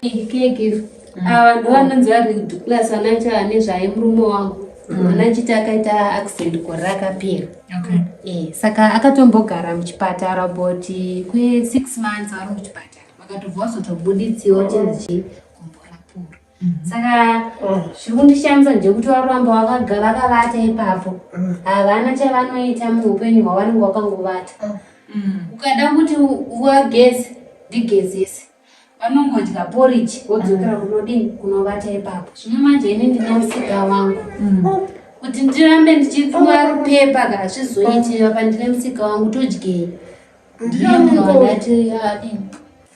Kekiro. Mm. Ava ah, ndovanonzi vari class vanaita vane zvaye murume wangu. Mm. Ana chiti akaita accident gore rakapera. Okay. Eh, saka akatombogara muchipatara about kwe 6 months ari muchipatara. Vakatobva vazotobuditsiwa chinzi chii? saka zviri kundishamisa ndekuti varamba vakagara vakavata ipapo havana chavanoita muupenyu hwavanenge vakangovata ukada kuti wageze ndigezese vanongodya poriji vodzokera kunodini kunovata ipapo zvino manje ini ndine musika wangu kuti ndirambe ndichipfuwa rupepa kana zvizoiti apa ndine musika wangu todyei ndiyo ndinoadati adini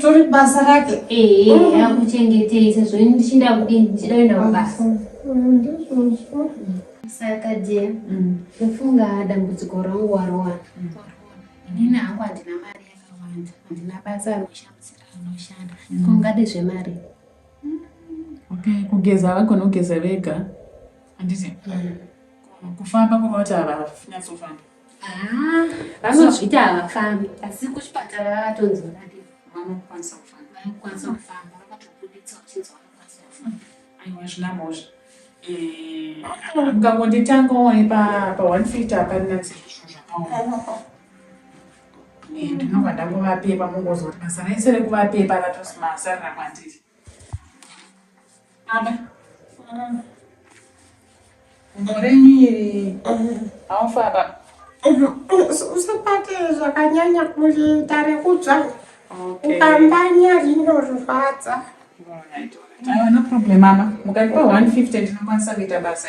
tori basa rake ehe akuchengetei sezvo ini ndichinda kudii ndichida kuenda mabasa saka dia ndofunga mm. dambudziko rangu warowana mm. inini hangu handina mari yakawanda handina basa anoshandisira anoshanda mm. kungade zvemari okay kugeza vagona kugeza vega handiti kufamba kunoita havanyatso famba Ah, vanozvita havafambi asi kuchipatara vakatonzi vakati vanokwanisa kufamba vanokwanisa kufamba vakatobuditsa vachinzi vanokwanisa kufamba aiwa zvina mhozva mukangonditanga eh, waye pa one feet haparina dzizvo zvakaoma eh, ndinobva ndangovapepa mungozoti basa raise rekuvapepa ratosmasarira kwandiri Muremiri haufara usibate zvakanyanya kuita rekudzva ukambanya rinorwadza no problem mama mukatipa 150 tinokwanisa kuita basa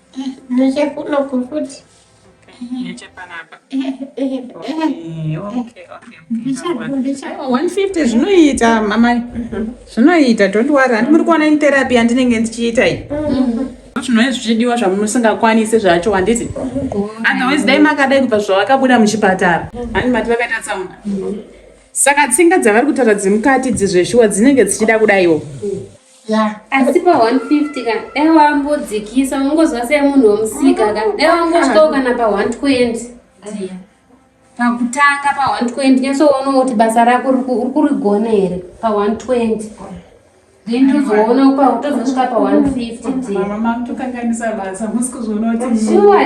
Nechekuno kufuti. Nechepanapa. One fifty zvinoita mamai zvinoita don't worry handi muri kuona therapy yandinenge ndichiita iyi zvinove zvichidiwa zvamusingakwanisi zvacho handiti otherwise dai makadai kubva zvavakabuda muchipatara handi mati vakaita tsaona saka tsinga dzavari kutaura dzemukati dzizveshuwa dzinenge dzichida kudaiwo asi pa 150 ka dai wambodzikisa ungozwa sei munhu wemusika ka dai wangosvikawo kana pa 120 pakutanga pa 120 nyasoonawo kuti basa rako uri kurigona here pa 120 then tozoona upa tozosvika pa 150 sure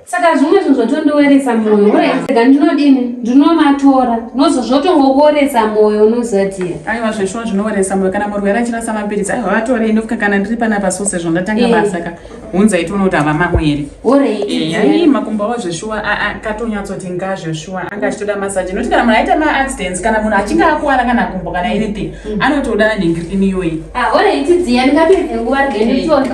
saka zvimwe zvinhu zvatondiweresa mwoyo uraitika ndinodini ndinomatora nozo zvotongokuweresa mwoyo unozatia aiwa zveshuwa zvinoweresa mwoyo kana murwere achirasa mapiritsi aiwa vatorei ndofuka kana ndiri panapa so sezvo ndatanga eh. basa ka hunza itiona kuti hava mamweri eh, ai makumbo avo zveshuwa akatonyatsooti nga zveshuwa anga achitoda masaji nokuti kana munhu aita maaccidents kana munhu achinge akuwara kana kumbo kana anything mm. anotoda nhengirini iyoyi ah, ore itidziya ndingapedze nguva rgenitora eh.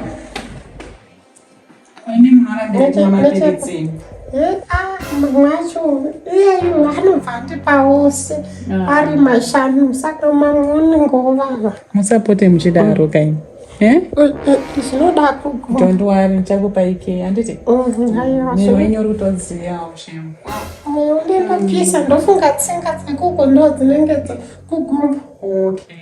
mwacho iyeyu anobva andipa ose ari mashanu saka mamwe unenge wovava musapote muchidaro kaini zvinoda kugondwari ndichakupa ike handiti mwenyu rutodziyawo shemu moyo ndinopisa ndofunga tsinga dzekuko ndo dzinenge dzekugumba okay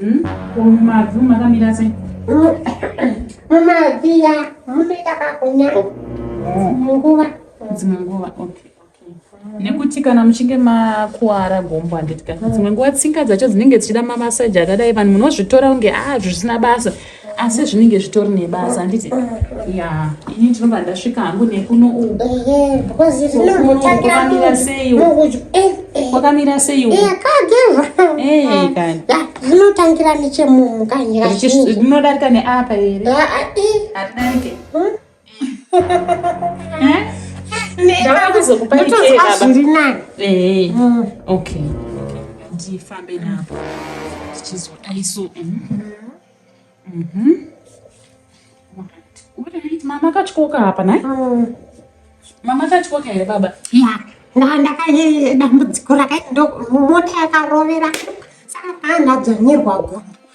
Hmm? Mumabvi makamira sei? Mumabvi ya munoita kakunya dzimwe nguva. Dzimwe nguva, okay. nekuti kana muchinge makuwara gombo handiti ka dzimwe nguva tsinga dzacho dzinenge dzichida mamasaji akadai vanhu munozvitora kunge a ah, zvisina basa asi zvinenge zvitori nebasa handiti ya ini ndinobva ndasvika hangu nekuno ukokamira seiwo kwakamira seiwoakagevaakazvinotangira nechemunhu kanyika zvinodarika neapa here haridarike ndifambe napo ndichizodaiso mama akatyoka hapa naye mama akatyoka here baba ndandakayedambudziko rakaita mota yakarovera saka paandadzvanyirwa gombo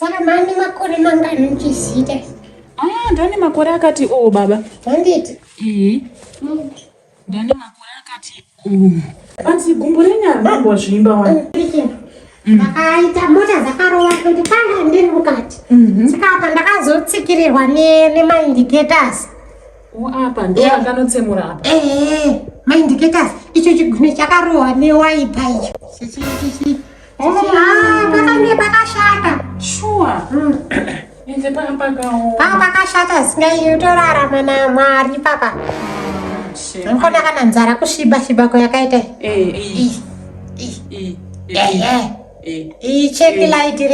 Saka mane makore mangani muchizita? Ah, ndane makore akati o oh, baba. Handiti? Ehe. Mm. Ndane makore akati o. Oh. Asi gumbo renyara mambo zvimba wani. Mm, mm. Akaita mota zakarova kuti panga ndiri mukati. Mhm. Saka apa ndakazotsikirirwa nemaindicators. O oh, apa ndo eh. akanotsemura apa. Ehe. Maindicators icho chigune chakarohwa newaipa icho. Chichi chichi. pakange pakashata shuwa hmm. ende panga pakaoma panga pakashata zvisingaii utorarama namwari papa ndikona kana nzara kusviba shiba kwayakaita iyi eh, eh, eh, cheki laiti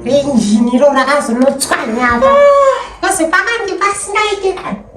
renjini iro rakazonotswanyava ah. kozi pakange pasingaite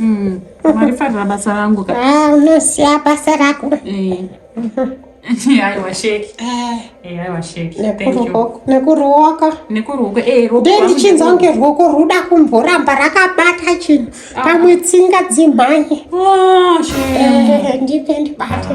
Mm. marifarira basa rangu ah, unosiya basa rako eh. aiwa sheki eh. eh, aiwa sheki nekuruoko nekuruoko ndichinzwa kunge ruoko ruda kumboramba rakabata chinhu ah. pamwe tsinga dzimhanye oh, ndipe ndibate